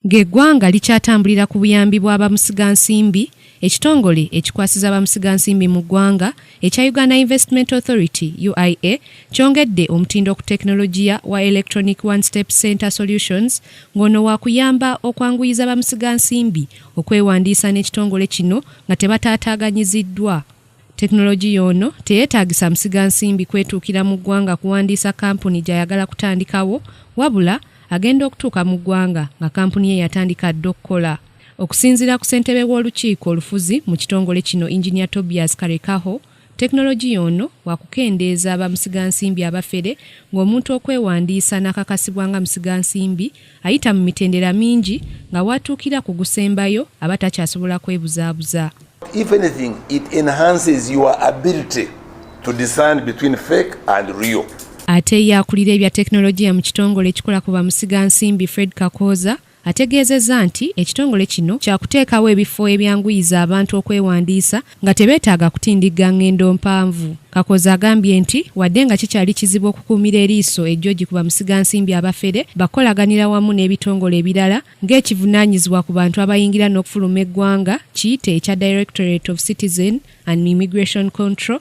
Ng'eggwanga likyatambulira ku buyambi bwa bamusigansimbi, ekitongole ekikwasiza bamusigansimbi mu ggwanga ekya Uganda Investment Authority, UIA, kyongedde omutindo ku tekinologiya wa Electronic One Step Center Solutions ng'ono waakuyamba okwanguyiza bamusigansimbi okwewandiisa n'ekitongole kino nga tebataataaganyiziddwa. Tekinologiya ono teyeetaagisa musiga nsimbi kwetuukira mu ggwanga kuwandiisa kampuni gy'ayagala kutandikawo wabula agenda okutuuka mu ggwanga nga kampuni ye yatandika dda okukola okusinziira ku ssentebe w'olukiiko olufuzi mu kitongole kino enginia tobias karekaho tekinologiya ono wakukendeeza bamusigansimbi abafere ng'omuntu okwewandiisa n'akakasibwa nga musigansimbi Ayita mu mitendera mingi nga w'atuukira ku gusembayo aba takyasobola kwebuzaabuza. If anything, it enhances your ability to discern between fake and real. Ate ye akulira ebya tekinologiya mu kitongole ekikola ku bamusiga nsimbi Fred Kakooza ategeezezza nti ekitongole kino kyakuteekawo ebifo ebyanguyiza abantu okwewandiisa nga tebeetaaga kutindigga ng'endo mpanvu. Kakooza agambye nti wadde nga kikyali kizibu okukuumira eriiso ejjoji ku bamusigansimbi abafere, bakukolaganira wamu n'ebitongole ebirala ng'ekivunaanyizibwa ku bantu abayingira n'okufuluma eggwanga kiyite ekya Directorate of Citizen and Immigration Control